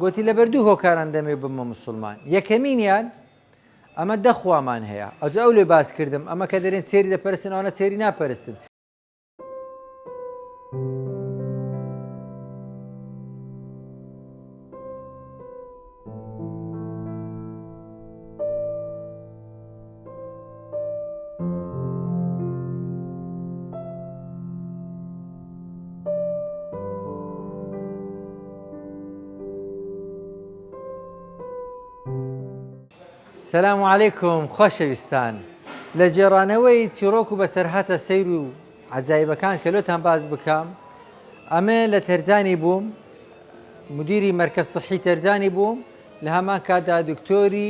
گۆتی، لەبەر دوو هۆکاران دەمەوێ ببمە موسوڵمان، یەکەمینیان، ئەمە دە خوامان هەیە، ئەوجا ئەو لێ باس کردم، ئەمە کە دەرێن چێری دەپەرستن ئەوانە چێری ناپەرستن، سلام و علیکم خۆشەویستان لە جێڕانەوەی چیرۆک و بەسەرهاتە سیر و عجایبەکان کە لۆتان باز بکەم ئەمە لە تەرجانی بووم مدیری مەرکە سەحی تەرجانی بووم لە هەمان کادا دکتۆری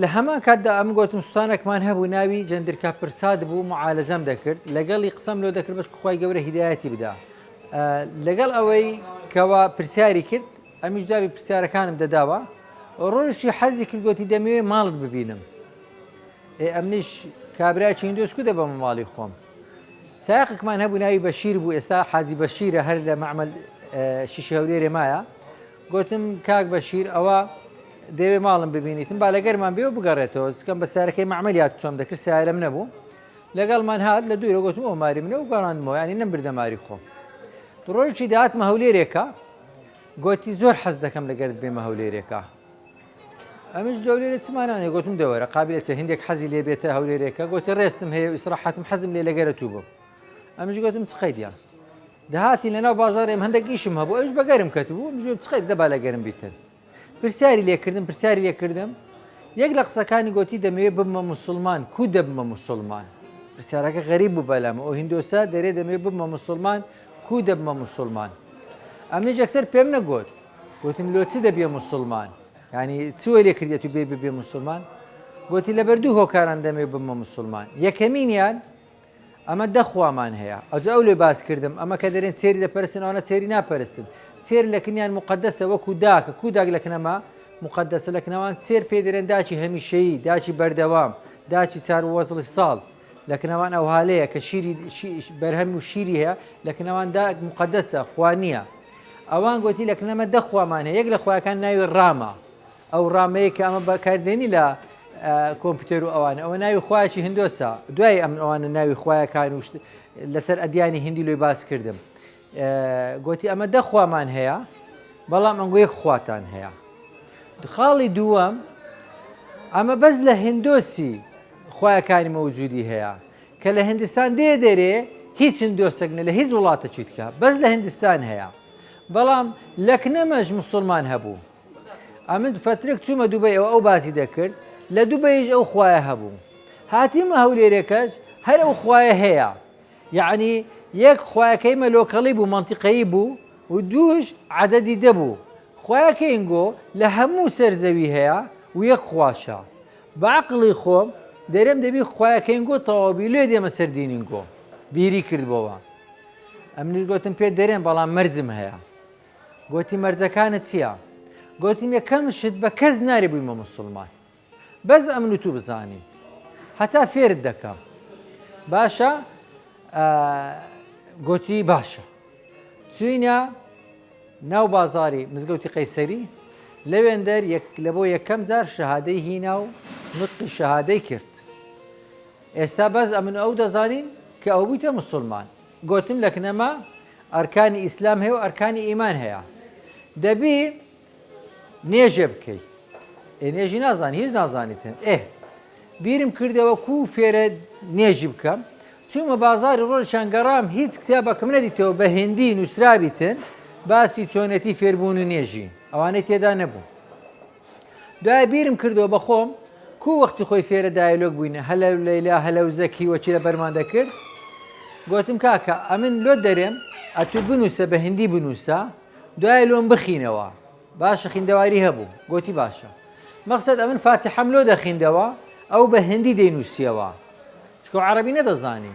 لە هەمان کاتدا ئەمن گۆتم سوتانەکمان هەبوو ناوی جەندرکە پرساد بوو معالەجەم دەکرد لەگەڵی قسەم لۆ دەکرد بەش خخوای گەورە هیدایەتی بدا لەگەڵ ئەوەی کەوا پرسیاری کرد ئەمیش جاوی پرسیارەکانم دەداوە ڕۆژی حەزی کردگوتی دەمەوێ ماڵت ببینم ئێ ئەمنیش کابرای چیندۆسکو دە بەمە ماڵی خۆم ساقکمان هەبوو ناوی بەشیر بوو ئێستا حاجی بەشیرە هەر لە معمل شیشەورێرێ مایە گۆتم، کاک بەشیر ئەوە دەیەوێ ماڵم ببینیتم با لەگەرمان بێ و بگەڕێتەوە، جکەم بە سەیارەکەی مەعمەر یاد چۆم دەکرد سەیارەم نەبوو، لەگەڵمان هات لە دوورە گۆتم ئەوە ماری منە و گەڕاندمەوە یانی نەمبردە ماری خۆم. ڕۆژێکی دا هاتمە هەولێرێکا گۆتی، زۆر حەز دەکەم لەگەرت بێمە هەولێرێکا. ئەمنیش دەولێرێ چما نانێ گۆتم دەوەرە قابلە چێ هندێک حەزی لێ بێتە هەولێرێکە گۆتی ڕێستم هەیە و ئیسڕاحەتم حەزم لێ لەگەرە توو بم. ئەمنیش گۆتم چ قەیدیە. دەهاتین لەناو بازاڕ ئێمە هەندێک ئیشم هەبوو ئەوش بە گەرم کەتبوو منیش گوتم خیر دەبا لە گەرم بیتن پرسیاری لێ کردم پرسیاری لێ کردم یەک لە قسەکانی گوتی دەمەوێت ببمە موسڵمان کو دەبمە موسڵمان پرسیارەکە غەریب بوو بەلامە ئەو هندۆسە دەرێ دەمەوێت ببمە موسڵمان کو دەبمە موسڵمان ئەمنیش یەکسەر پێم نەگوت گوتم لۆ چ دەبێ موسڵمان ینی چوە لێ کردێت و بێ ببێ موسڵمان گوتی لەبەر دوو هۆکاران دەمێ ببمە موسڵمان یەکەمینیان ئەمە دە خوامان هەیە. ئەوجا ئەو لێ باس کردم، ئەمە کە دەرێن تێری دەپەرستن ئەوانە تێری ناپەرستن. تێر لە کنیان موقەدەسە وەکوو داکە، کوو داک لە کنەما موقەدەسە، لە کنەوان تێر پێی دەرێن داکی هەمیشەیی، داکی بەردەوام، داکی چار وەزڵی ساڵ. لە کنەوان ئەوها لێیە کە شیری شی بەرهەم و شیری هەیە، لە کنەوان داک موقەدەسە، خوا نییە. ئەوان گۆتی لە کنەما دە خوامان هەیە، یەک لە خوایەکان ناوی ڕامە. ئەو ڕامەیە کە ئەمە بەکاردێنی لە کۆمپیوتەر و ئەوان ئەوە ناوی خخوایکی هندۆسە دوای ئەم ئەوانە ناوی خویەکان و لەسەر ئەدیانی هندی لۆی باس کردم گوتی ئەمە دەخوامان هەیە بەڵام ئەنگوی خواتان هەیە خاڵی دووەم ئەمە بەس لە هندۆسی خویەکانی مەوجودی هەیە کە لە هندستان دێ دەرێ هیچ هندۆسەگنە لە هیچ وڵاتە چیتکە بەس لە هندستان هەیە بەڵام لەکنەمەش مسلمان هەبوو ئەمن فترێک چوومە دوبەیەوە ئەو باسی دەکرد لە دوبەیش ئەو خوایە هەبوو هاتیمە هەولێرێکەش هەر ئەو خوایە هەیە یعنی یەک خوایەکەی مەلۆکەڵی بوو منتیقەیی بوو و دووش عدەدی دەبوو خوایەکەینگۆ لە هەموو سەر زەوی هەیە و یەک خواشە بەعقڵی خۆم دەرێم دەبی خوایەکەینگۆ تەواوبی لێ دێمە سەر دینینگۆ بیری کردبەوە ئەمنیش گوتم پێ دەرێن بەڵام مەرجم هەیە گۆتی مەرجەکانت چیە؟ گۆتم یەکەم شت بە کەس ناری بویمە موسڵمان بەس ئەمن و تو بزانین هەتا فێرت دەکەم باشە گۆتی باشە چوینە ناو بازاری مزگەوتی قەیسەری لەوێندەر لە بۆ یەکەم جار شەهادەی هینا و نوتقی شەهادەی کرد ئێستا بەس ئەمن ئەو دەزانین کە ئەو بوویتە مسلمان گۆتم لەکنەما ئەرکانی ئیسلام هەیەو ئەرکانی ئیمان هەیە دەبی نێژێ بکەی ئێ نێژی نازانی هیچ نازانیتن ئێ بیرم کردەوە کو فێرە نێژی بکەم چوومە بازاری ڕۆژیان گەڕام هیچ کتابەکەم نەدیتەوە بە هندی نووسرابیتن باسی چۆنێتی فێربوون و نێژی ئەوانەی تێدا نەبوو دوایە بیرم کردەوە بە خۆم کوو وەختی خۆی فێرە دایەلۆگ بووینە هەلە و لەیلا هەلە و زەکی وەکی لە بەرمان دەکرد گۆتم کاکە ئەمن لۆت دەرێم ئەتوو بنووسە بە هندی بنووسە دوایە لۆم بخینەوە باشە خیندەواری هەبوو گۆتی باشە مەخسەد ئەمن فاتحەم لۆ دەخیندەوە ئەو بە هندی دەینووسیەوە چکۆ عەڕەبی نەدەزانی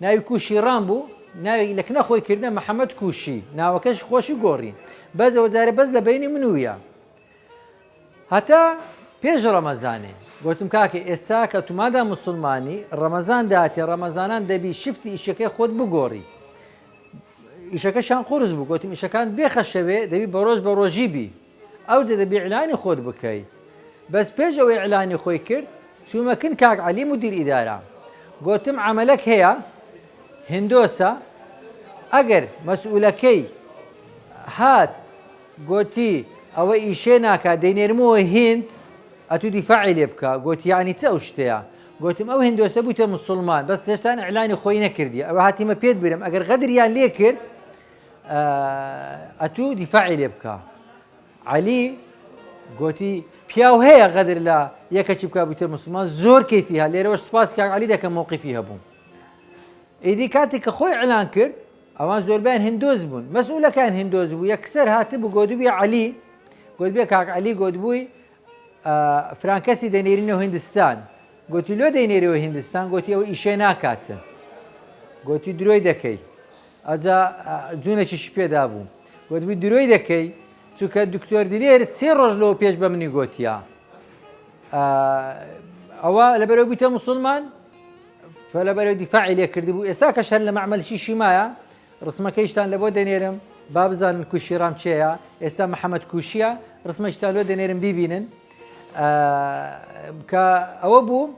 ناوی کوشی ڕام بوو ناوی لە کنە خۆی کردە محمد کوشی ناوەکەش خۆشی گۆڕی بەس ئەوە جارێ بەس لە بینی من و ویا هەتا پێش ڕەمەزانێ گوتم کاکە ئێستا کە تومادا مسلمانی ڕەمەزان داتێ ڕەمەزانان دەبی شفتی ئیشەکەی خۆت بگۆڕی ئیشەکەشان قورس بوو گوتم ئیشەکان بێخەشەوێ دەبی بە ڕۆژ بە ڕۆژی بی ئەوجە دەبی اعلانی خۆت بکەی بەس پێش ئەوەی اعلانی خۆی کرد چومە کن کاک علی مدیر ادارە گۆتم عەمەلەک هەیە هندۆسە ئەگەر مەسئولەکەی هات گۆتی ئەوە ئیشێ ناکا دەینێرمەوە هیند ئەتو دیفاعی لێ بکە گۆتی یعنی چ ئەو شتەیە گۆتم ئەو هندۆسە بوتە مسلمان بەس هێشتان اعلانی خۆی نەکردی ئەوە هاتیمە پێت برم ئەگەر غەدریان لێ کرد ئەتوو دیفاعی لێ بکە عەلی گۆتی پیاو هەیە غەدر لە یەکەکی بکە بوتە مسلمان زۆر کەفی هە لێرەوە سپاس کاک علی دەکەم مووقیفی هەبوو ئیدی کاتێک کە خۆی ئەلان کرد ئەوان زۆربیان هندۆز بوون مەسئولەکان هندۆز بوو یەکسەر هاتن بوو گۆدوبی علی گوت بێ کاک علی گۆدبووی فرانکەسی دەنێرینەوە هندستان گوتی لۆ دەینێرەوە هندستان گوتی ئەو ئیشێ ناکاتە گوتی درۆی دەکەی ئەوجا جونێکیشی پێدابوو وتبوی درۆی دەکەی چونکە دکتۆر دلێر سێ ڕۆژ لەوە پێش بە منی گۆتیە ئەوە لەبەرەوە بوویتە مسلمان فلەبەرەوە دیفاعی لێ کردبوو ئێستا کە شەر لە مەعملشی شیمایە ڕسمەکەیشتان لە بۆ دەنێرم با بزانن کوشی ڕام چێە ئێستا محەممەد کوشیە ڕسمەشتان لۆ دەنێرم بیبینن کە ئەوە بوو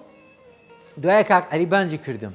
دوایە کاک عریبانجی کردم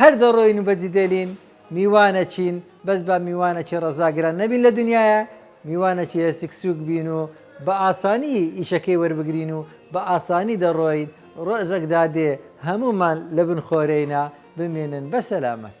هەر دەڕۆین و بەجی دێلین میوانەچین بەس با میوانەچی ڕەزاگران نەبین لە دنیایە میوانەچی هەسک سوک بین و بە ئاسانی ئیشەکەی وەربگرین و بە ئاسانی دەڕۆین ڕۆژەک دادێ هەموومان لە بن خۆرێینا بمینن بە سەلامەت.